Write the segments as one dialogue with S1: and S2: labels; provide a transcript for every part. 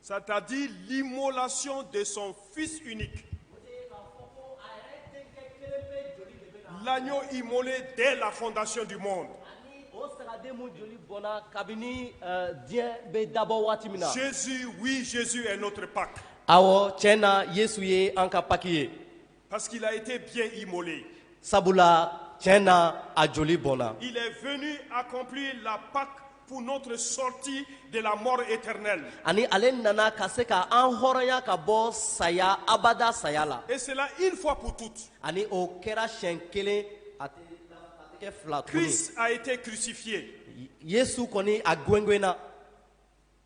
S1: Sadadi limolasi de sɔn fi la i mɔnɔni den la fɔdasi di ma kabini diɲɛ bɛ dabɔ waati min na sisi wzsi n'oto pa aw cɛ na yesu ye an ka paki ye Parce qu'il a été bien immolé. Sabula tiɲɛ na a joli bɔnna. Il est venu accomplir la Pâque pour notre sortie de la mort éternelle. Ani ale nana ka se ka an hɔrɔnya ka bɔ saya abada saya la. Et cela une fois pour toutes. Ani o kɛra siɲɛ kelen a tɛ a tɛ kɛ fila tuguni. Christ a été crucifié. Yesu kɔni a gwengwenna.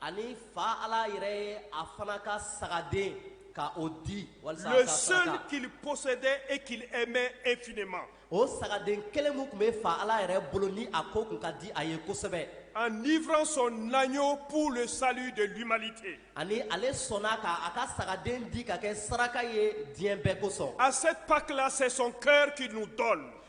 S1: Ani fa ala yɛrɛ a fana ka sagaden ka o di wali kili kosɛbɛ e ki mɛn e f ma o sagaden kelen tun bɛ faa ala yɛrɛ bolo ni a ko tun ka di a ye kosɛbɛ a ni sɔn na y'o de sa de bi mali ten ani ale sɔnna k' a ka sagaden di ka kɛ saraka ye diɲɛ bɛɛ kosɔn a se paki sɔn kɛ ki dɔn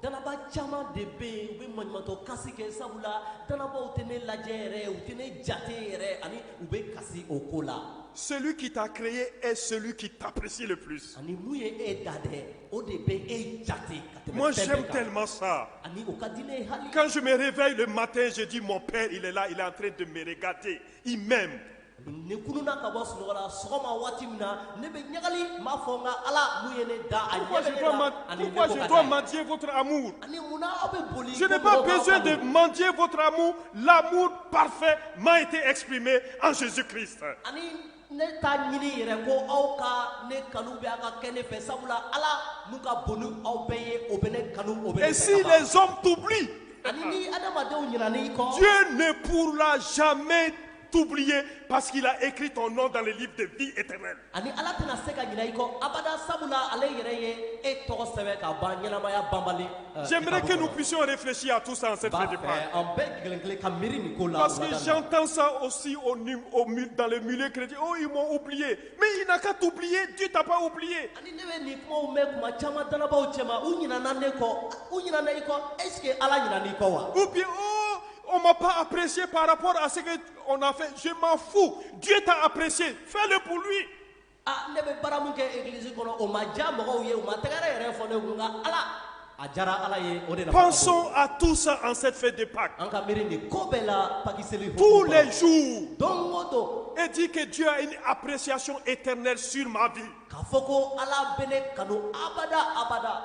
S1: Dalaba caman de bɛ yen u bɛ matɔ kasi kɛ sabu la dalabaw tɛ ne lajɛ yɛrɛ u tɛ ne jate yɛrɛ ani u bɛ kasi o ko la seli ki ta kire ye e seli ki tapsi de psi ani mun ye e da dɛ o de bɛ e jate ka tɛmɛ sema sa ani ka di ne hali kanmere fɛn de ma tɛsedi mɔnpɛ ila i latre de miirikate i mɛn ne kununna ka bɔ sunɔgɔ la sɔgɔma waati min na ne bɛ ɲagali n b'a fɔ n ka ala mun ye ne da a ɲɛ bɛ ne la ani ne bɔ ka taa ɲɛ. Pourquoi je dois mendier votre amour ani munna aw bɛ boli ko mɔgɔw ka aw kanu. Je n'ai pas besoin de mendier votre amour. L'amour parfait m'a été exprimé en Jésus-Christ. ani ne t'a ɲini yɛrɛ ko aw ka ne kanu bɛ a ka kɛ ne fɛ sabula ala mun ka bon ni aw bɛɛ ye o bɛ ne kanu o bɛ ne fɛ ka ban. Et si les hommes t'oublient, ani ni adamadenw ɲinana i kɔ Dieu ne pourra jamais t'oublier parce qu'il a écrit ton nom dans le livre de vie éternelle. Ani Ala tɛna se ka ɲinɛ i kɔ abada sabula ale yɛrɛ ye e tɔgɔ sɛbɛn ka ban ɲɛnamaya banbali. Euh, J'aimerais que nous puissions réfléchir à tout ça en cette fête de Pâques. An bɛɛ kelen kelen ka miiri nin ko la. Parce que j'entends ça aussi au, au, dans le milieu chrétien. Oh, ils m'ont oublié. Mais il n'a qu'à t'oublier, Dieu t'a pas oublié. Ani ne bɛ nin kumaw mɛn kuma caman dannabaaw cɛma u ɲinɛna ne kɔ u ɲinɛna i kɔ est-ce que Ala ɲinɛna i kɔ wa? Ou bien oh On m'a pas apprécié par rapport à ce qu'on a fait. Je m'en fous. Dieu t'a apprécié. Fais-le pour lui. Ah, ne bɛ baara mun kɛ église kɔnɔ o ma diya mɔgɔw ye o ma tɛgɛrɛ yɛrɛ fɔ ne kun nka ala a diyara ala ye o de la. pensons à tout ça en cette fête de Pâques. an ka miiri nin ko bɛɛ la pakiseli. tous les jours. don o don. et dis que Dieu a une appréciation éternelle sur ma vie. k'a fɔ ko ala bɛ ne kanu abada abada.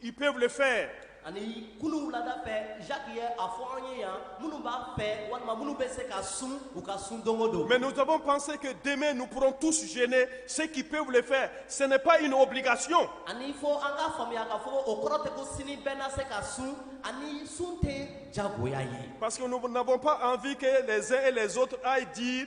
S1: Ils peuvent le faire. ani kunu wulada fɛ jacques ye a fɔ an ye yan minnu b'a fɛ walima minnu bɛ se ka sun u ka sun don o don Mais nous avons pensé que demain nous pourrons tous jeûner. Ceux qui peuvent le faire, ce n'est pas une obligation. ani fo an k'a faamuya k'a fɔ ko o kɔrɔ tɛ ko sini bɛɛ na se ka sun ani sun tɛ jagoya ye Parce que nous n'avons pas envie que les uns et les autres aillent dire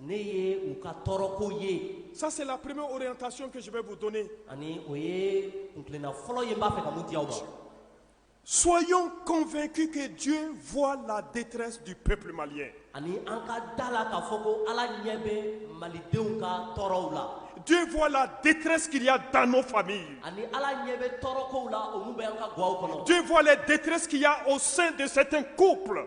S1: Ne ye u ka tɔɔrɔko ye. Ça c'est la première orientation que je vais vous donner. Ani o ye kuntilenna fɔlɔ ye n b'a fɛ ka mun di aw ma. Soyons convaincus que Dieu voit la détresse du peuple malien. Ani an ka d'a la k'a fɔ ko Ala ɲɛ bɛ Malidenw ka tɔɔrɔw la. Dieu voit la détresse qu'il y a dans nos familles. Ani Ala ɲɛ bɛ tɔɔrɔkow la olu bɛ an ka gwaw kɔnɔ. Dieu voit les détresses qu'il y a au sein de certains couples.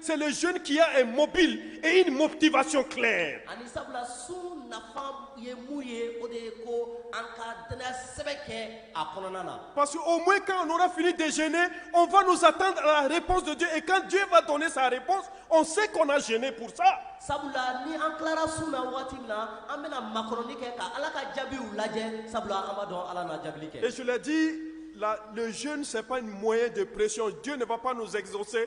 S1: seli z kiya ye mɔbili e ni mɔtibaso kɛ ani sabula su
S2: nafa ye mun ye o de ye ko an ka t sɛbɛn kɛ a kɔnɔna na parce que o ma kan n
S1: fini de ze o fana sa tan are panzji e kan diɲɛba dɔn ni sari pan o se kɔnɔ ze kurusa sabula ni an
S2: tilara su na waati min na an bɛna makɔrɔnɔni kɛ ka ala ka jaabiw lajɛ sabula an ma dɔn ala na jaabi kɛ sulati
S1: la z sɛp mɔ ye de presiyɛn jo de pan n' sɛgɛgese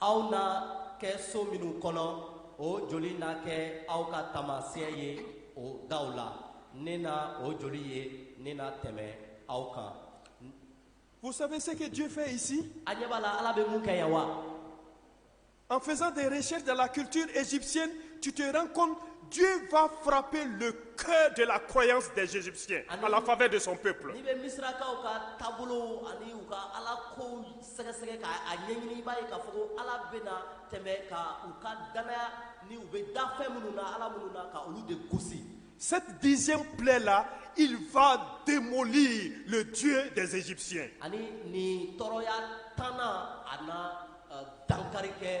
S1: aw na
S2: kɛ so minnu kɔnɔ o joli na kɛ aw ka taamasiyɛn ye o daw la ne na o joli ye ne na tɛmɛ aw kan Vous
S1: savez ce que Dieu fait ici a ɲɛ b'a la ala bɛ
S2: mun kɛ yan wa
S1: En faisant des recherches dans la culture égyptienne, tu te rends compte Dieu va frapper le cœur de la croyance des Égyptiens à la faveur de son peuple. n'i bɛ misirakaw
S2: ka taabolow ani u ka ala kow sɛgɛsɛgɛ ka a ɲɛɲini i b'a ye k'a fɔ ko ala bɛna tɛmɛ ka u ka danaya ni u bɛ da fɛn minnu na ala minnu na ka olu de gosi Cette dixième
S1: plaie-là, il va démolir le Dieu des Égyptiens. ani nin
S2: tɔɔrɔya tannan a na eh, dankari kɛ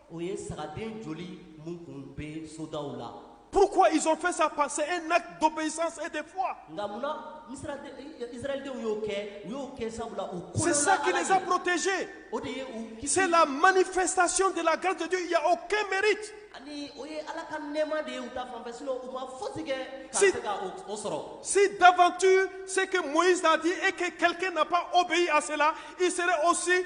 S1: O ye sagaden
S2: joli mun kun bɛ sodaw la. Pourquoi ils ont fait
S1: ça parce que c'est un acte d'obéissance et de foi. Nka mun na
S2: Israëldenw y'o kɛ? U y'o kɛ sabula u kolola Ala ye. C'est ça qui les a
S1: protégés. O de ye u
S2: kisi. C'est la manifestation
S1: de la grâce de Dieu, il n'y a aucun mérite. Ani o ye Ala
S2: ka nɛɛma de ye u ta fan fɛ sinon u ma fosi kɛ ka Si- se ka o o sɔrɔ. Si d'aventure
S1: ce que Moïse a dit et que quelqu'un n'a pas obéi à cela, il serait aussi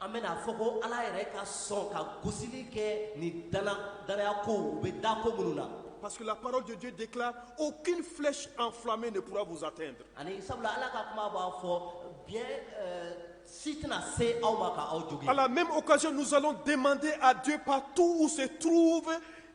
S1: An bɛna fɔ ko
S2: ala yɛrɛ ka sɔn ka gosisili kɛ ni daya ko u bɛ da ko minnu na pala parojju
S1: de o ki filɛsi an fila min de kura busatɛ in ani sabula ala ka
S2: kuma b'a fɔ bi si tɛna se aw ma aw ala mɛ o kasi
S1: ninnusa den manden a dunba tu se tuuru fɛ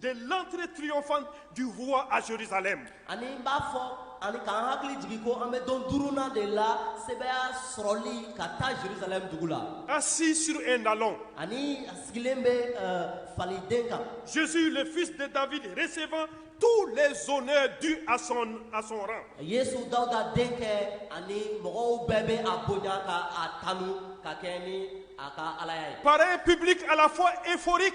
S1: de l'entrée triomphante du roi à Jérusalem. Ani n b'a
S2: fɔ ani k'an hakili jigin ko an bɛ don duurunan de la sebaaya sɔrɔli ka taa Jérusalem dugu la. Assis sur un
S1: ânon. Ani a sigilen
S2: bɛ euh, faliden kan. Jésus le fils
S1: de David recevant tous les honneurs dus à son, à son rang. Yesu
S2: Dawuda denkɛ ani mɔgɔw bɛɛ bɛ a bonya ka a tanu ka kɛ ni a ka Alaya ye. Par un public à la
S1: fois euphorique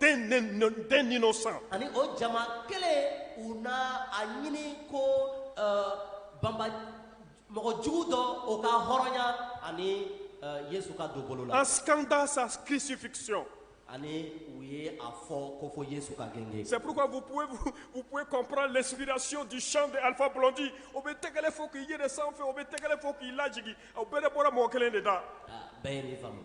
S1: d'un d'un d'un d'un innocent. ani o
S2: jama kelen u na a ɲini ko eh, Baraba mɔgɔ jugu dɔ o ka hɔrɔnya ani eh, yesu ka don bolo la En scandant sa
S1: crucifixion.
S2: ani u ye a fɔ ko fo yesu ka gengen C'est pourquoi vous
S1: pouvez, vous, vous pouvez comprendre l'inspiration du chant de Alpha Blondy. O bɛ tɛgɛrɛ fɔ k'i yɛlɛ sanfɛ, o bɛ tɛgɛrɛ fɔ k'i lajigi, o bɛɛ de bɔra mɔgɔ kelen de da. Ah, bɛɛ ye nin faamu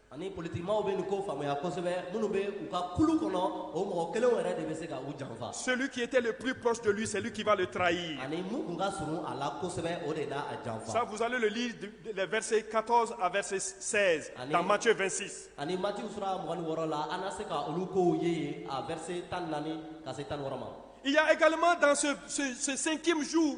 S1: ani politikimaw bɛ nin ko faamuya kosɛbɛ minnu bɛ u ka kulu kɔnɔ o mɔgɔ kelenw yɛrɛ de bɛ se ka u janfa celui qui était le plus proche de lui c'est lui qui va le trahir ani mun tun ka surun a la kosɛbɛ o de na a janfa ça vous allez le lire les versets 14 à verset 16 ani, dans Matthieu 26 ani Matthieu sura mugan ni wɔɔrɔ la an na se ka olu kow ye yen a verset tan ni naani ka se tan ni wɔɔrɔ ma il y a également dans ce, ce, ce cinquième jour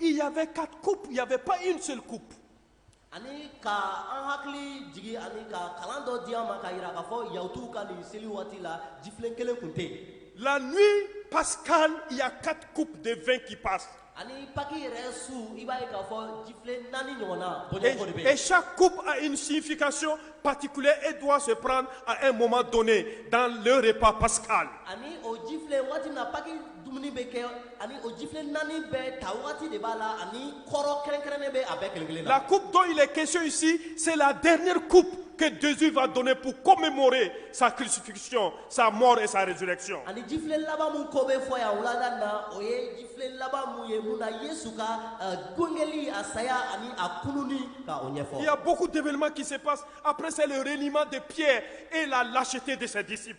S1: Il y avait quatre coupes, il n'y avait pas une seule coupe. Ani ka an hakili jigi ani ka kalan dɔ di an ma ka yira k'a fɔ yahutuw ka nin seli waati la jifilen kelen tun tɛ yen La nuit pascale, il y a quatre coupes de vin qui passent. ani paki yɛrɛ su i b'a ye k'a fɔ jifilen naani ɲɔgɔnna bɔɲɔgɔnko de bɛ yen Et, et chaque coupe a une signification particulière et doit se prendre à un moment donné dans le repas pascal. ani o jifilen waati min na paki dumuni bɛ kɛ ani o jifilen naani bɛɛ ta wagati de b'a la ani kɔrɔ kɛrɛnkɛrɛnnen bɛ a bɛɛ kelen kelen na. La coupe dont il est question ici, c'est la dernière coupe que Jésus va donner pour commémorer sa crucifixion, sa mort et sa résurrection. ani jifilen laban min ko bɛ fɔ yan wulada in na o ye jifilen laban mun ye mun na yesu ka eh, gengeli a saya ani a kununi ka o ɲɛfɔ Il y a beaucoup d'événements qui se passent. Après, c'est le reniement de Pierre et la lâcheté de ses disciples.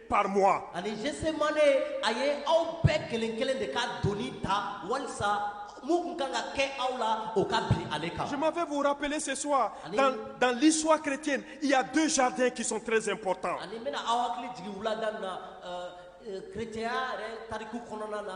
S1: par moi. Ani Gethsémané a ye aw bɛɛ kelen kelen de ka doni ta walisa mun kun kan ka kɛ aw la o ka bin ale kan. Je m'en vais vous rappeler ce soir Ani- dans, dans l'histoire chrétienne, il y a deux jardins qui sont très importants. Ani n bɛna aw hakili jigin wulada nin na euh, euh, chrétienya yɛrɛ tariku kɔnɔna na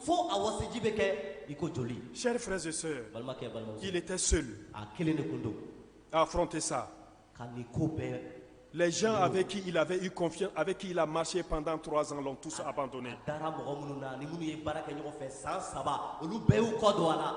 S1: fo a wasiji bɛ kɛ i ko joli. Chers frères et sœurs, balimakɛ n balimamuso, il était seul a kelen de tun don à affronter ça. ka nin ko bɛɛ Les gens avec qui il avait eu confiance, avec qui il a marché pendant trois ans, l'ont tous abandonné. a dara mɔgɔ minnu na ni minnu ye baara kɛ ɲɔgɔn fɛ san saba olu bɛɛ y'u kɔ don a la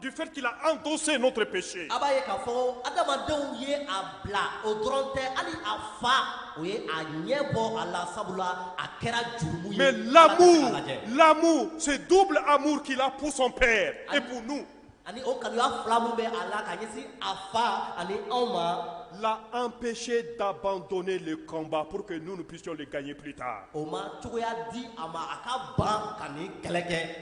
S1: du fait qu'il a endossé notre péché. A b'a ye k'a fɔ adamadenw ye a bila o dɔrɔn tɛ hali a fa o ye a ɲɛ bɔ a la sabula a kɛra jurumu ye. Mais l'amour, l'amour, ce double amour qu'il a pour son père et pour nous. Ani o kanuya fila min bɛ a la ka ɲɛsin a fa ani anw ma. l'a empêché d'abandonner le combat pour que nous nous puissions le gagner plus tard. O ma cogoya di a ma a ka ban ka nin kɛlɛ kɛ.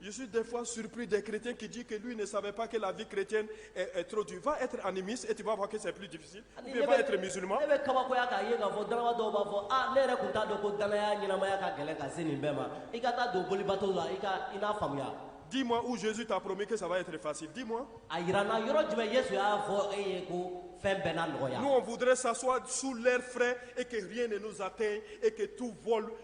S1: Je suis des fois surpris des chrétiens qui disent que lui ne savait pas que la vie chrétienne est, est trop dure. Va être animiste et tu vas voir que c'est plus difficile. Ou bien va être musulman. ne bɛ kabakoya k'a ye k'a fɔ danaba dɔw b'a fɔ a ne yɛrɛ tun t'a dɔn ko danaya ɲɛnamaya ka gɛlɛn ka se nin bɛɛ ma i ka taa don bolibato la i ka i n'a faamuya Dis-moi où Jésus t'a promis que ça va être facile. Dis-moi. a yira n na
S2: yɔrɔ jumɛn yesu y'a fɔ e ye ko fɛn bɛɛ na nɔgɔya Nous, on voudrait s'asseoir
S1: sous l'air frais et que rien ne nous atteigne et que tout vole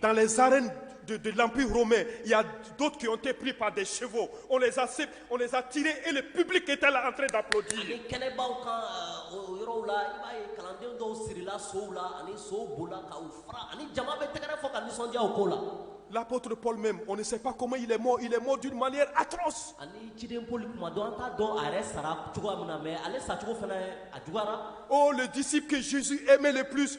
S2: Dans les
S1: arènes de, de l'Empire romain, il y a d'autres qui ont été pris par des chevaux. On les a, sé- on les a tirés et le public était là en train d'applaudir. ani kɛnɛbaw kan
S2: ɛ, o yɔrɔw la i b'a ye kalanden dɔw sirila sow la ani sow bolila ka u fara ani jama bɛ tɛgɛrɛ fɔ ka nisɔndiya o ko la L'apôtre
S1: Paul même, on ne sait pas comment il est mort. Il est mort d'une manière atroce. ani ciden Poli
S2: kuma dɔ an t'a dɔn a yɛrɛ sara cogoya min na mais ale sacogo fana a juguyara Oh, le disciple
S1: que Jésus aimait le plus,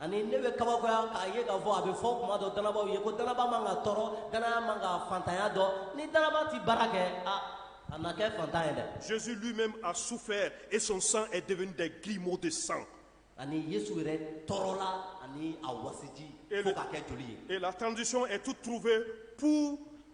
S1: ani ne
S2: bɛ kabakoya k'a ye k'a fɔ a bɛ fɔ kuma dɔ danabaw ye ko danaba man ka tɔɔrɔ danaya man ka fantanya dɔn ni danaba tɛ baara kɛ a a na kɛ fantan ye dɛ. Jésus lui-même a
S1: souffert et son sang est devenu des grumeaux de sang. ani
S2: Yesu yɛrɛ tɔɔrɔla ani a wasiji fo ka kɛ joli ye. Et la transition
S1: est
S2: toute
S1: trouvée pour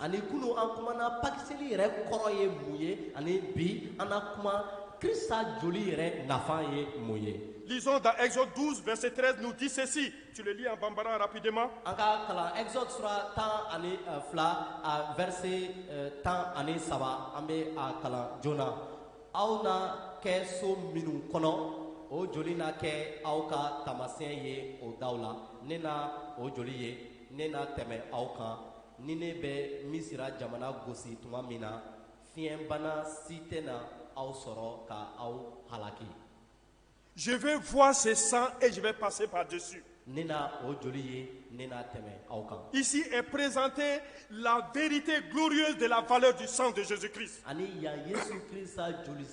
S1: ani kunu an
S2: kumana pakiseli yɛrɛ kɔrɔ ye mun ye ani bi an na kuma krista joli yɛrɛ nafa ye mun ye Lisons dans Exode 12,
S1: verset 13 nous dit ceci. Tu le lis en bambara rapidement. an ka kalan
S2: exode sura tan ani eh, fila a verset eh, tan ani saba an bɛ a kalan joona aw na kɛ so minnu kɔnɔ o joli na kɛ aw ka taamasiyɛn ye o daw la ne na o joli ye ne na tɛmɛ aw kan ni ne bɛ misira jamana gosi tuma min na fiɲɛbana si tɛna aw sɔrɔ ka aw halaki
S1: Je vais voir ce sang et je vais passer par-dessus. ne na o joli
S2: ye ne na tɛmɛ aw kan Ici est présentée
S1: la vérité glorieuse de la valeur du sang de Jésus-Christ. ani yan yesu
S2: krista joli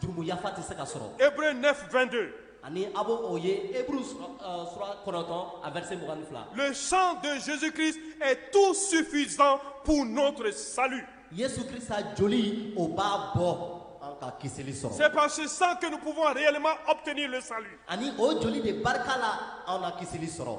S2: jurumu
S1: yafa
S2: tɛ se ka sɔrɔ Hébreux 9, 22. ani a bɛ o ye Hébreux sura euh, sura kɔnɔntɔn a verset mugan ni fila Le sang de
S1: Jésus-Christ est tout suffisant pour notre salut. yesu
S2: krista joli o b'a bɔ an ka kisili sɔrɔ C'est par ce sang que
S1: nous pouvons réellement obtenir le salut. ani o joli de
S2: barika la an na kisili sɔrɔ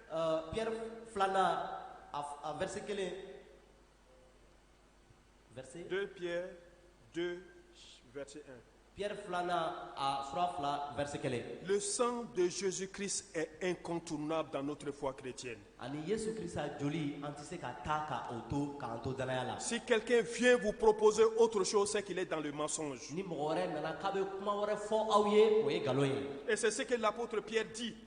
S1: Pɛri filananna
S2: a vse kelen pɛri filananna a fura fila vse kelen le san
S1: donsoosi ki n kɔn tun n'a dan n'o tile fɔ a kire cɛ ani ye su kisa
S2: joli an tɛ se ka taa ka o to k'an to daya la si kake fiɲɛyɛn b'u
S1: poropze o tosi kelen dan ma sɔn ni mɔgɔ wɛrɛ nana
S2: k'a bɛ kuma wɛrɛ fɔ aw ye o ye nkalon ye ɛsɛ se lakuoro
S1: pyɛɛrɛti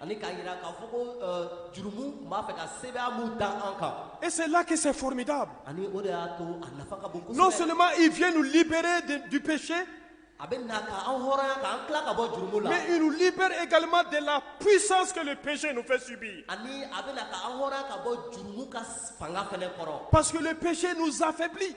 S1: Ani k'a jira
S2: k'a fɔ ko euh, jurumu tun b'a fɛ ka sebaaya min da an kan. Et c'est là que
S1: c'est formidable. Ani o de y'a to
S2: a nafa ka bon kosɛbɛ. Non seulement il vient nous
S1: libérer de, du péché. A bɛ na
S2: ka an hɔrɔnya ka an tila ka bɔ jurumu la. Mais il nous libère
S1: également de la puissance que le péché nous fait subir. Ani a bɛ na ka
S2: an hɔrɔnya ka bɔ jurumu ka fanga fana kɔrɔ. Parce que le péché
S1: nous affaiblit.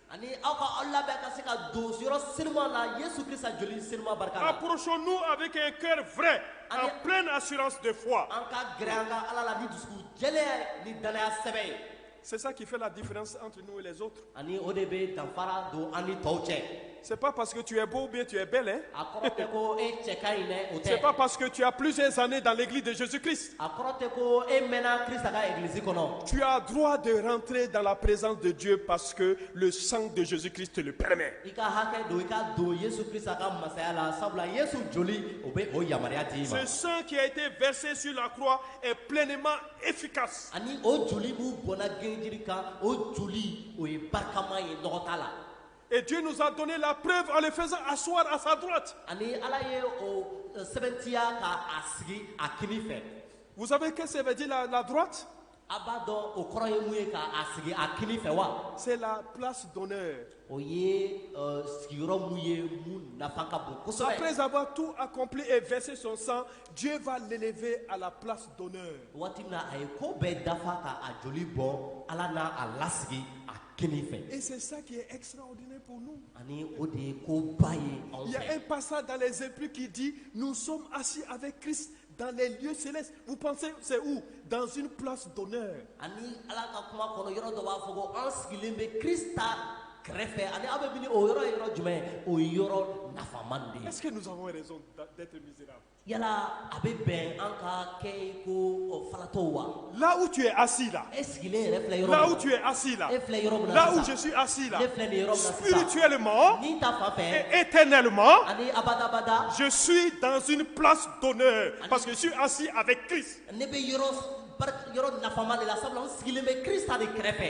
S1: Ani aw ka
S2: aw labɛn ka se ka don yɔrɔ senuma la Yesu Krista joli senuma barika la. Approchons-nous avec
S1: un cœur vrai en pleine assurance de foi. An ka gɛrɛ an ka Ala
S2: la ni dusukun jɛlen ye ni danaya sɛbɛ ye. C'est ça qui fait
S1: la différence entre nous et les autres. Ani o de
S2: bɛ danfara don an ni tɔw cɛ. C'est pas parce
S1: que tu es beau ou bien tu es belle, hein? A kɔrɔ tɛ ko e
S2: cɛ ka ɲi dɛ, o tɛ. C'est pas parce que tu as
S1: plusieurs années dans l'église de Jésus-Christ. A kɔrɔ tɛ ko
S2: e mɛnna Krista ka eglisi kɔnɔ. Tu as droit
S1: de rentrer dans la présence de Dieu parce que le sang de Jésus Christ te le permet. I ka hakɛ don i
S2: ka don Yesu Krista ka masaya la sabula Yesu joli o bɛ o yamaruya d'i ma. Ce sang qui a
S1: été versé sur la croix est pleinement efficace. Ani o joli
S2: min bɔnna gengenjiri kan o joli o ye barikama ye nɔgɔ t'a la. Et Dieu
S1: nous a donné la preuve en le faisant asseoir à sa droite. Ani Ala
S2: ye o eh, sɛbɛntiya ka a sigi a kini fɛ. Vous savez qu'est-ce que
S1: ça veut dire la, la droite? A b'a dɔn o
S2: kɔrɔ ye mun ye ka a sigi a kini fɛ wa? C'est la place
S1: d'honneur. O
S2: ye eh, sigiyɔrɔ min ye min nafa ka bon kosɛbɛ. Après avoir
S1: tout accompli et versé son sang, Dieu va l'élever à la place d'honneur. Waati min na a ye ko
S2: bɛɛ dafa ka a joli bɔn, Ala na a lasigi a kini fɛ. Et c'est ça qui
S1: est extraordinaire pour nous. Ani o de ye
S2: ko ba ye anw fɛ. Il y a un
S1: passage dans les Épîtres qui dit nous sommes assis avec Christ dans les lieux célestes. Vous pensez c'est où? Dans une place d'honneur. Ani Ala
S2: ka kuma kɔnɔ yɔrɔ dɔ b'a fɔ ko an sigilen bɛ Krista kɛrɛfɛ ani aw bɛ miiri o yɔrɔ ye yɔrɔ jumɛn? O ye yɔrɔ nafama de ye. Est-ce que nous avons raison
S1: d'être misérables? Yala a bɛ
S2: bɛn an ka kɛ ko faratɔ wa la u tun ye a si
S1: la e sigilen yɛrɛ filɛ yɔrɔ la
S2: tun ye a si la e
S1: filɛ yɔrɔ min la jɔsi a si la e filɛ yɔrɔ siri cogoyalen ma ni ta fa fɛ
S2: e tɛ nali ma ani
S1: abadabada
S2: josi danz
S1: psi don ne pa que si a si a bɛ ki ne bɛ yɔrɔ
S2: yɔrɔ nafama de la sabula sigilen bɛ kisa de kɛrɛfɛ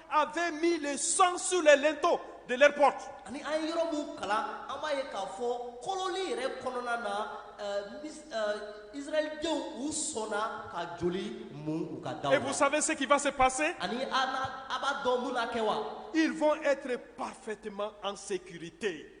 S1: avaient mis le sang sur les linteaux de leur porte. Ani an ye yɔrɔ
S2: min kalan an b'a ye k'a fɔ kololi yɛrɛ kɔnɔna na euh, mis- euh, israɛlidenw u sɔnna ka joli mun u ka daw la Et vous savez ce qui va
S1: se passer ani a n'a- a
S2: b'a dɔn mun na kɛ wa Ils vont être
S1: parfaitement en sécurité.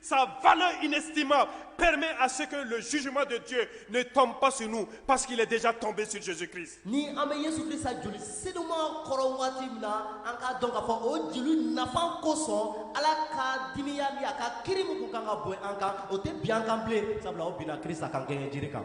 S1: Sa valeur inestimable permet à ce que le jugement de Dieu ne tombe pas sur nous parce qu'il est déjà tombé sur Jésus-Christ. Ni an bɛ Yesu
S2: Krista joli senuma kɔrɔ waati min na, an k'a dɔn k'a fɔ o joli nafa kosɔn Ala ka dimiya ni a ka kiri min kun kan ka bɔn an kan, o tɛ bin an kan bilen sabula o binna Krista kan gengen jiri kan.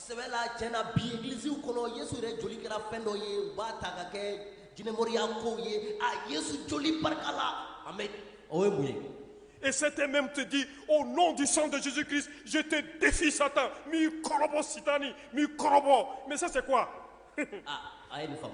S1: sɛbɛ la tiɲɛ
S2: na bi egilisiw kɔnɔ yesu yɛrɛ joli kɛra fɛn dɔ ye u b'a ta ka kɛ jinɛmɔriya kow ye a yesu joli barika la amen o ye mun ye Et
S1: certains même te dit, au nom du sang de Jésus-Christ, je te défie Satan. N b'i kɔrɔbɔ sitani, n b'i kɔrɔbɔ. Mais ça c'est quoi ah, a
S2: ye nin faamu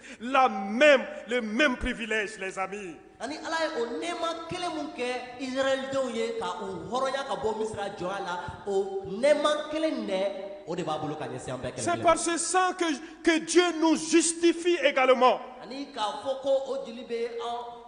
S1: La même, le même privilège, les amis. ani ala ye o
S2: nɛɛma kelen mun kɛ israɛldenw ye ka u hɔrɔnya ka bɔ misira jɔnya la o nɛɛma kelen dɛ o de b'a bolo ka ɲɛsin an bɛɛ kelen C'est par ce sang
S1: que, que Dieu nous justifie également. ani k'a fɔ
S2: ko o joli bɛ an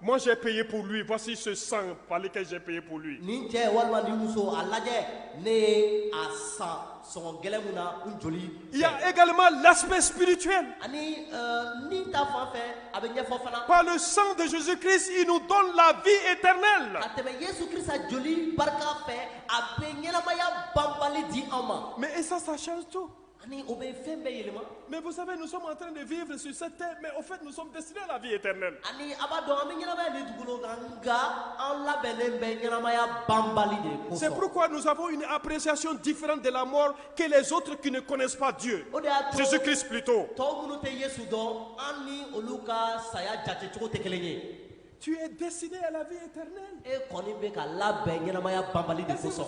S1: Moi j'ai payé pour lui, voici ce sang par lequel j'ai payé pour lui. Nin cɛ walima nin muso a lajɛ ne ye a san sɔngɔ gɛlɛn mun na n joli. Il y a également l'aspect spirituel. Ani euh, ni ta fan fɛ a bɛ ɲɛfɔ fana. Par le sang de Jésus-Christ, il nous donne la vie éternelle. Ka tɛmɛ Yesu Krista joli barika fɛ a bɛ ɲɛnamaya banbali di an ma. Mais et ça ça change tout. Ani o bɛ fɛn bɛɛ yɛlɛma. Mais vous savez, nous sommes en train de vivre sur cette terre, mais au fait, nous sommes destinés à la vie éternelle. Ani a b'a dɔn an bɛ ɲɛnamaya nin dugukolo kan nka an labɛnnen bɛ ɲɛnamaya banbali de kosɔn. C'est pourquoi nous avons une appréciation différente de la mort que les autres qui ne connaissent pas Dieu. O de y'a to Jésus-Christ plutôt. tɔw minnu tɛ Yesu dɔn an ni olu ka saya jate cogo tɛ kelen ye. Tu es destiné à la vie éternelle. E kɔni bɛ ka labɛn ɲɛnamaya banbali de kosɔn.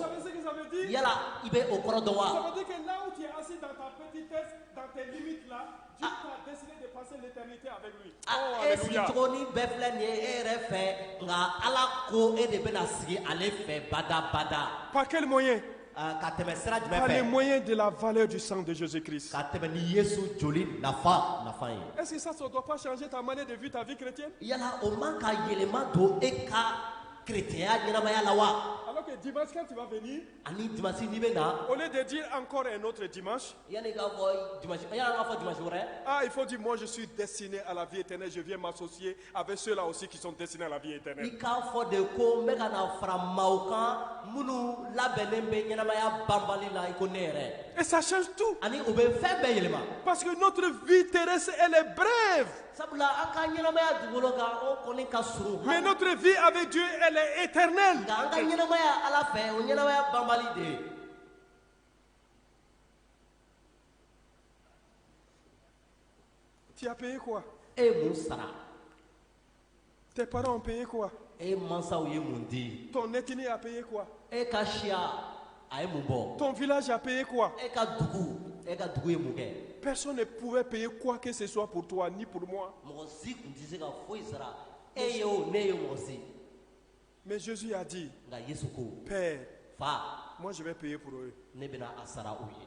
S1: Yala i bɛ o kɔrɔ dɔn wa? Ça veut dire que là où tu es assis dans ta petitesse, dans tes limites là, Dieu ah. t'a décidé de passer l'éternité avec lui. Ah, oh, e sigicogonin bɛɛ filɛ nin ye e yɛrɛ fɛ nka Ala ko e de bɛna sigi ale fɛ badabada. Par quel moyen? Ah, ka tɛmɛ sira jumɛn fɛ par le moyen de la valeur du sang de Jésus-Christ. ka tɛmɛ ni yesu joli nafa nafa ye Est-ce que ça ne doit pas changer ta manière de vivre ta vie chrétienne yala o man ka yɛlɛma don e ka kerecɛnya ɲɛnamaya la wa Alors que dimanche, quand tu vas venir, ani dimasi n'i bɛ na au lieu de dire encore un autre dimanche, yanni k'a fɔ dimasi wɛrɛ ah, il faut dire, moi je suis destiné à la vie éternelle, je viens m'associer Avec ceux-là aussi qui sont destinés à la vie éternelle. I k'a fɔ de ko n bɛ ka na fara maaw kan minnu labɛnnen bɛ ɲɛnamaya banbali la i ko ne yɛrɛ. Et ça change tout. Ani o bɛ fɛn bɛɛ yɛlɛma. Parce que notre vie terrestre elle est brève. Sabula an ka ɲɛnamaya dugukolo kan o kɔni ka surun. Mais notre vie avec Dieu elle est éternelle. Nka an ka ɲɛnamaya Ala fɛ o ɲɛnamaya banbali de ye. Tu as payé quoi E ye mun sara? Tes parents ont payé quoi? E mansaw ye mun di? Ton ethnie a payé quoi? E ka siya a ye mun bɔ? Ton village a payé quoi? E ka dugu e ka dugu ye mun kɛ? Personne ne pouvait payer quoi que ce soit pour toi ni pour moi. Mɔgɔ si tun tɛ se ka foyi sara e ye o ne ye o mɔgɔ si. Mais Jésus a dit, Nka Yesu ko, Père, Fa, moi je vais payer pour eux. ne bɛna a sara u ye.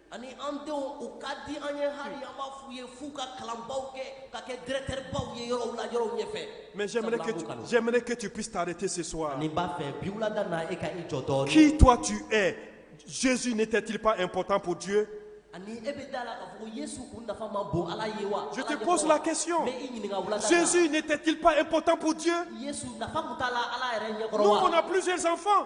S1: ani an denw u ka di an ye hali an b'a f'u ye f'u ka kalanbaw kɛ ka kɛ directeur baw ye yɔrɔw la yɔrɔw ɲɛfɛ Mais j'aimerais que, tu, j'aimerais que tu puisses t'arrêter ce soir. Ne b'a fɛ bi wulada na e ka i jɔ dɔɔni. Qui toi tu es? Jésus n'était-il pas important pour Dieu? ani e bɛ da la k'a fɔ ko Yesu kun nafa man bon Ala ye wa? Je te pose la question. N bɛ i ɲininka wulada na. Jésus n'était-il pas important pour Dieu? Yesu nafa kun t'a la Ala yɛrɛ ɲɛkɔrɔ wa? Nous on a plusieurs enfants.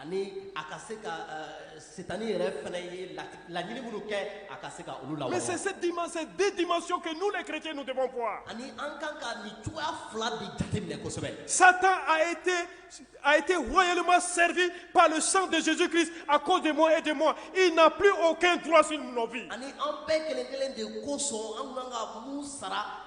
S1: ani a ka se ka euh, setani yɛrɛ fana ye laɲini minnu kɛ a ka se ka olu lawaleya. mais c'est cette dimension ces deux dimensions que nous les chrétiens nous devons voir. ani an kan ka nin cogoya fila de jateminɛ kosɛbɛ. Satan a été a été royalement servi par le sang de Jésus-Christ à cause de moi et de moi. Il n'a plus aucun droit sur nos vies. ani an bɛɛ kelen kelen de kosɔn an kan ka mun sara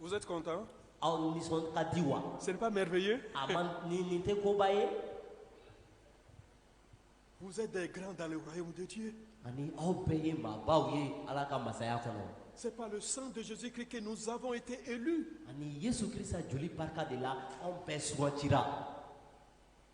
S1: Vous êtes content Aw nisɔn ka di wa? Ce n'est pas merveilleux? A man nin nin tɛ koba ye? Vous êtes des grands dans le royaume de Dieu. Ani aw bɛɛ ye maabaw ye Ala ka masaya kɔnɔ. C'est par le sang de Jésus-Christ que nous avons été élus. Ani Yesu Krista joli barika de la anw bɛɛ sugandira.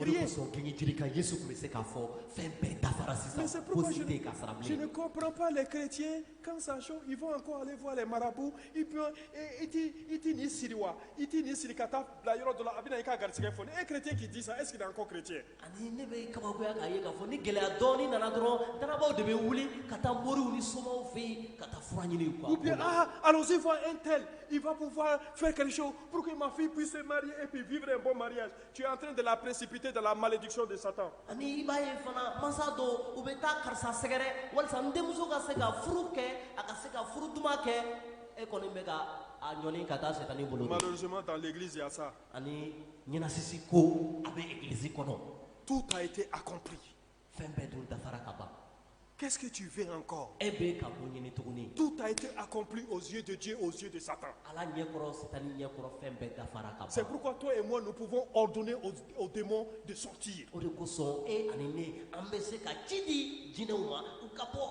S1: O de kosɔn gengenjiri kan Yesu tun bɛ se k'a fɔ fɛn bɛɛ dafara sisan fosi tɛ yen ka sara bilen. Je ne comprends pas les chrétiens quand ça chauffe ils vont encore aller voir les marabouts et puis i tɛ i tɛ nin siri wa i tɛ nin siri ka taa bila yɔrɔ dɔ la a bɛna i ka garisigɛ foni un chrétien qui dit ça est-ce qu'il est encore chrétien. Ani ne bɛ kabakoya k'a ye k'a fɔ ni gɛlɛya dɔɔni nana dɔrɔn danabaaw de bɛ wuli ka taa moriw ni somaw fɛ yen ka taa fura ɲini u ka. Ou bien ah allons-y voir un tel il va pouvoir faire quelque chose pour que ma fille puisse se marier et puis vivre un bon mariage. tu es en train de la précipiter dans la malédiction de Satan. Ani i b'a ye fana mansa dɔw u bɛ taa karisa sɛgɛrɛ walisa n denmuso ka se ka furu kɛ a ka se ka furu duman kɛ e kɔni bɛ ka a ɲɔni ka taa sɛtani bolo. Malheureusement dans l'église il y a ça. Ani ɲɛnasisi ko a bɛ egilisi kɔnɔ. Tout a été accompli. fɛn bɛɛ dun dafara ka ban Qu'est-ce que tu veux encore? E bɛ ka mun ɲini
S2: tuguni? Tout a été accompli
S1: aux yeux de Dieu, aux yeux de Satan. Ala ɲɛkɔrɔ Sitani
S2: ɲɛkɔrɔ fɛn bɛɛ dafara ka ban. C'est pourquoi toi et moi nous pouvons
S1: ordonner aux, aux démons de sortir. O de kosɔn e
S2: ani ne an bɛ se ka ci di jinɛw ma u ka bɔ.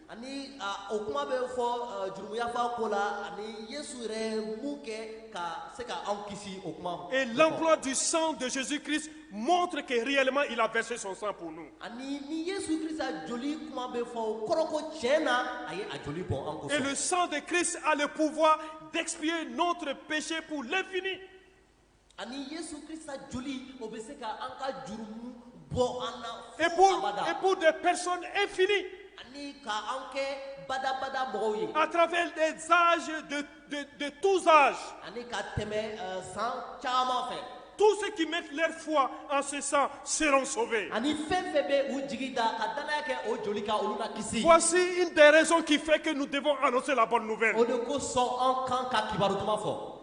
S1: ani
S2: o kuma bɛ fɔ jurumuyafaa ko la ani yesu yɛrɛ ye mun kɛ ka se ka anw kisi o kuma ma. et l'emploi du
S1: sang de Jésus-Christ montre que réellement il a versé son sang pour nous. ani ni
S2: yesu krista joli kuma bɛ fɔ o kɔrɔ ko tiɲɛ na a ye a joli bɔn an kosɔn. et le sang de
S1: Christ
S2: a
S1: le pouvoir d'expier notre péché pour l'infini.
S2: ani Yesu Krista joli o bɛ se ka an ka jurumu bɔ an na fo abada Et pour,
S1: et pour
S2: des
S1: personnes infinies, ani ka
S2: an kɛ badabada mɔgɔw ye à travers des
S1: âges, de, de, de tous âges. ani ka tɛmɛ
S2: eh, san caman fɛ Tous ceux qui
S1: mettent leur foi en ce sang seront sauvés. ani fɛn fɛn
S2: bɛ u jigi da ka danaya kɛ o joli kan olu na kisi Voici une des
S1: raisons qui fait que nous devons annoncer la bonne nouvelle. o de kosɔn an
S2: kan ka kibaru duman fɔ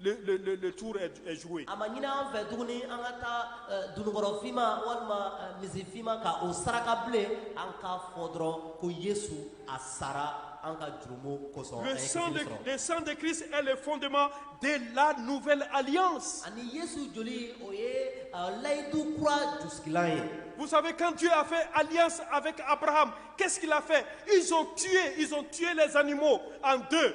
S1: le tour est joué a ma ɲini an fɛ
S2: tuguni an ka taa euh, dunukɔrɔ finma walima euh, misi finma ka o saraka bilen an k'a fɔ dɔrɔn ko yesu a sara an ka jurumu kosɔn le sang de le sang de
S1: christ
S2: est
S1: le fondement de la nouvelle alliance ani yesu
S2: joli o ye euh, layidu kura jusigilan ye Vous savez, quand Dieu a
S1: fait alliance avec Abraham, qu'est-ce qu'il a fait Ils ont tué, ils ont tué les animaux en deux.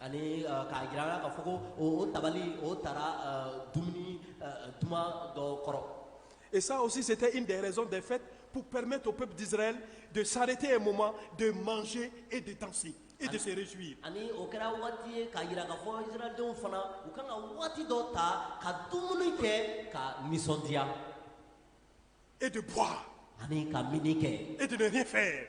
S2: ani k'a jira k'a fɔ ko o tabali o taara dumuni duman dɔ kɔrɔ Et ça aussi,
S1: c'était une des raisons des fêtes pour permettre au peuple d'Israël de s'arrêter un moment, de manger et de danser et de se réjouir. ani o kɛra
S2: waati ye k'a jira k'a fɔ israɛldenw fana u kan ka waati dɔ ta ka dumuni kɛ ka nisɔndiya
S1: Et de boire ani ka minni
S2: kɛ et de ne rien faire.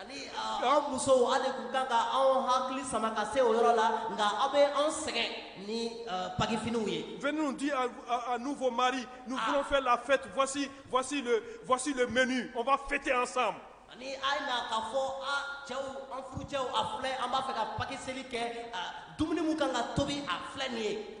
S1: ani an musow aw de tun kan ka anw hakili sama ka se o yɔrɔ la nka aw bɛ anw sɛgɛn ni paki finiw ye. venez nous dire à, à, nous vos maris nous ah. voulons faire la fête voici voici le voici le menu on va fêter ensemble. ani a ye na k'a fɔ a cɛw an furucɛw a filɛ an b'a fɛ ka paki seli kɛ dumuni min kan ka tobi a filɛ nin ye.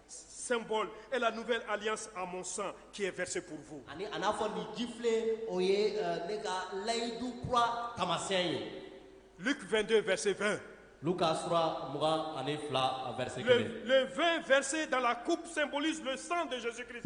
S1: symbole est la nouvelle alliance à mon sang qui est versé pour vous. Ani a n'a fɔ nin jifilen o ye euh, ne ka layidu kura taamasiyɛn ye. Luc 22 verset 20. Luka sura mugan ani fila verset kelen. Le, le vin versé dans la coupe symbolise le sang de Jésus-Christ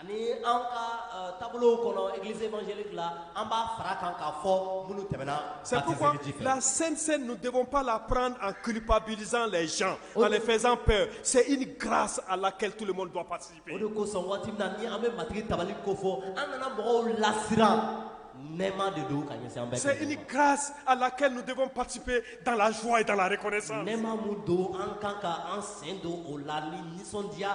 S1: ani an ka euh, taabolo kɔnɔ église évangélique la an b'a fara kan k'a fɔ minnu tɛmɛna C'est pourquoi la Sainte Cène, nous ne devons pas la prendre en culpabilisant les gens, en les faisant peur. C'est une grâce à laquelle tout le monde doit participer. o de kosɔn waati min na ni an bɛ matigi tabali ko fɔ an kana mɔgɔw lasiran nɛɛma de don ka ɲɛsin an bɛɛ C'est une grâce à laquelle nous devons participer dans la joie et dans la reconnaissance. nɛɛma mun don an kan ka an sen don o la ni nisɔndiya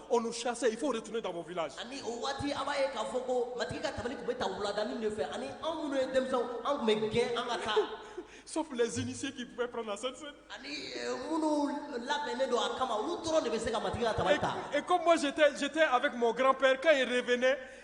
S1: on nous chassait il faut retourner dans vos villages ani o waati an b'a ye k'a fɔ ko matigi ka tabali tun bɛ ta wuladanin de fɛ ani an minnu ye denmisɛnw an tun bɛ gɛn an ka taa sauf les initiés qui pouvaient prendre la Sainte Cène. ani minnu labɛnnen don a kama olu dɔrɔn de bɛ se ka matigi ka tabali ta Et, et comme moi j'étais avec mon grand-père, quand il revenait,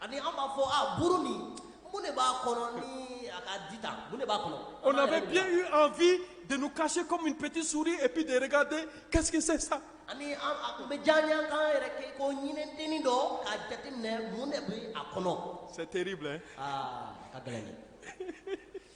S1: ani an b'a fɔ a buru nin mun de b'a kɔnɔ ni a ka di tan mun de b'a kɔnɔ. on avait bien eu envie de nous cacher comme une petite souris et puis de regarder qu'est-ce que c'est ça. ani a tun bɛ diya an ye an k'an yɛrɛ kɛ ko ɲinɛdennin dɔ k'a jateminɛ mun de bɛ a kɔnɔ. c'est terrible hein. aa a ka gɛlɛn dɛ.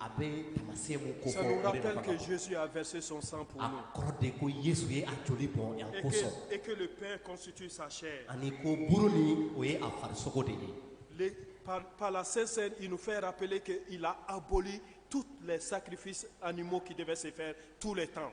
S2: a bɛ taamasiyɛn mun kofɔ o de nafa ka bon. Ça nous rappelle que
S1: Jésus a versé son sang pour nous a kɔrɔ de ko yesu ye
S2: a joli bɔn an kosɔn et que, et que le pain
S1: constitue sa chair. ani ko buru
S2: nin o ye a farisogo de ye Les- par, par
S1: la Sainte Cène, il nous fait rappeler qu'il a aboli tous les sacrifices animaux qui devaient se faire tous les temps.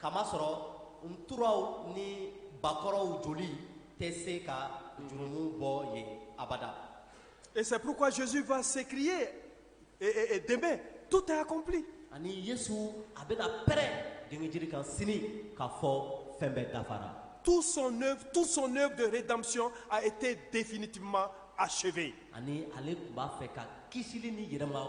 S2: kamasɔrɔ nturaw ni bakɔrɔw joli tɛ se ka jurumu bɔ yen abada Et c'est
S1: pourquoi Jésus va s'écrier et, et, et demain, tout est accompli. ani yesu
S2: a bɛna pɛrɛn dengejiri kan sini k'a fɔ fɛn bɛɛ dafara Tout son œuvre,
S1: tout son œuvre de rédemption a été définitivement achevée. ani ale tun
S2: b'a fɛ ka kisili ni yɛrɛma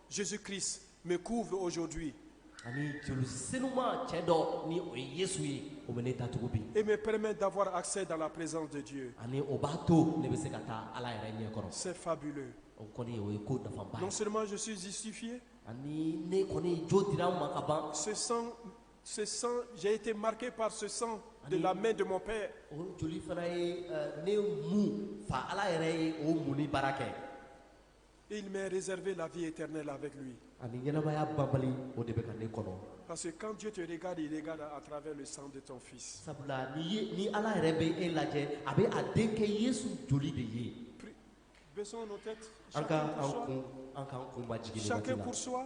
S1: Jésus Christ me couvre aujourd'hui. Ani joli senuma cɛ dɔ ni o ye Yesu ye o bɛ ne datugu bi. Et me permet d'avoir accès dans la présence de Dieu. Ani o b'a to ne bɛ se ka taa Ala yɛrɛ ɲɛ kɔrɔ. C'est fabuleux. O kɔni o ye ko nafaba ye. Non seulement je suis justifié. Ani ne kɔni jo dira n ma ka ban. Ce sang ce sang j'ai été marqué par ce sang de la main de mon père. O joli fana ye ne mun fa Ala yɛrɛ ye o munni baara kɛ. Il m'a réservé la vie éternelle avec lui ani ɲɛnamaya banbali o de bɛ ka ne kɔnɔ parce que quand Dieu te regarde il regarde à travers le sang de ton fils sabula ni ye ni ala yɛrɛ bɛ e lajɛ a bɛ a denkɛ yesu joli de ye Pri- baissons nos têtes an ka an kun majigin nin waati la chacun pour soi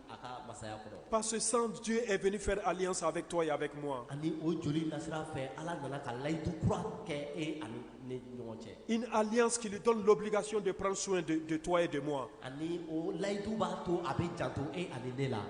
S2: Pa san diɲɛ
S1: ep ne fɛ ali sa a bɛ tɔgɔ ye a bɛ kuma ani o joli ka
S2: sira fɛ ala nana ka layidu kura kɛ e ani ni ɲɔgɔn cɛ i ni ali sigilen
S1: dɔn dɔbili ka so de psiso in de tɔgɔ ye de ma ani o layidu
S2: b'a to a bɛ jato e ani ne la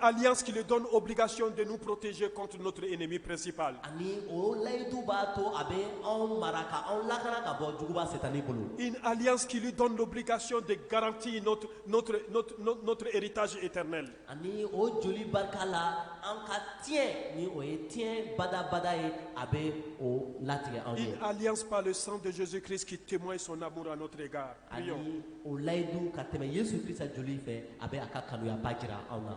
S1: ali sigilen dɔn obi ka so de n porotezsi cot n'oto e ni bɛ presi' la ani o
S2: layidu b'a to a bɛ anw mara ka anw laka ka bɔ juguba fɛ tan ni bolo ali sigilen
S1: dɔn dɔbili ka so de garanti n'o notre, notre, notre, notre héritage éternel. Ani o joli
S2: barika la an ka tiɲɛ ni o ye tiɲɛ badabada ye a bɛ o latigɛ anw ye. Une alliance par le
S1: sang
S2: de
S1: Jésus-Christ qui témoigne son amour à notre égard. Prions. Ani o layidu
S2: ka tɛmɛ Yesu Krista joli fɛ a bɛ a ka kanuyaba jira anw na.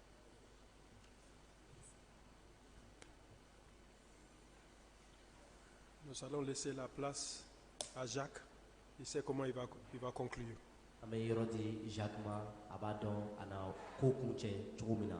S1: Nous allons laisser la place à Jacques. Il sait comment il va, il va conclure. An bɛ yɔrɔ di
S2: Jacques ma, a b'a dɔn a na ko kuncɛ cogo min na.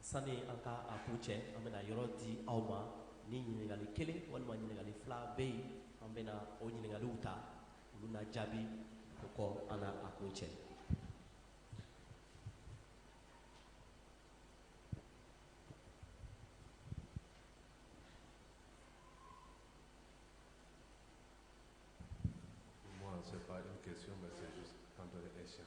S2: sani an ka a kuncɛ an bɛna yɔrɔ di aw ma ni ɲininkali kelen walima ɲininkali fila bɛ yen an bɛna o ɲininkaliw ta olu na jaabi o kɔ an na a kuncɛ
S3: Moi, c'est pas une question, mais c'est juste un peu un échec.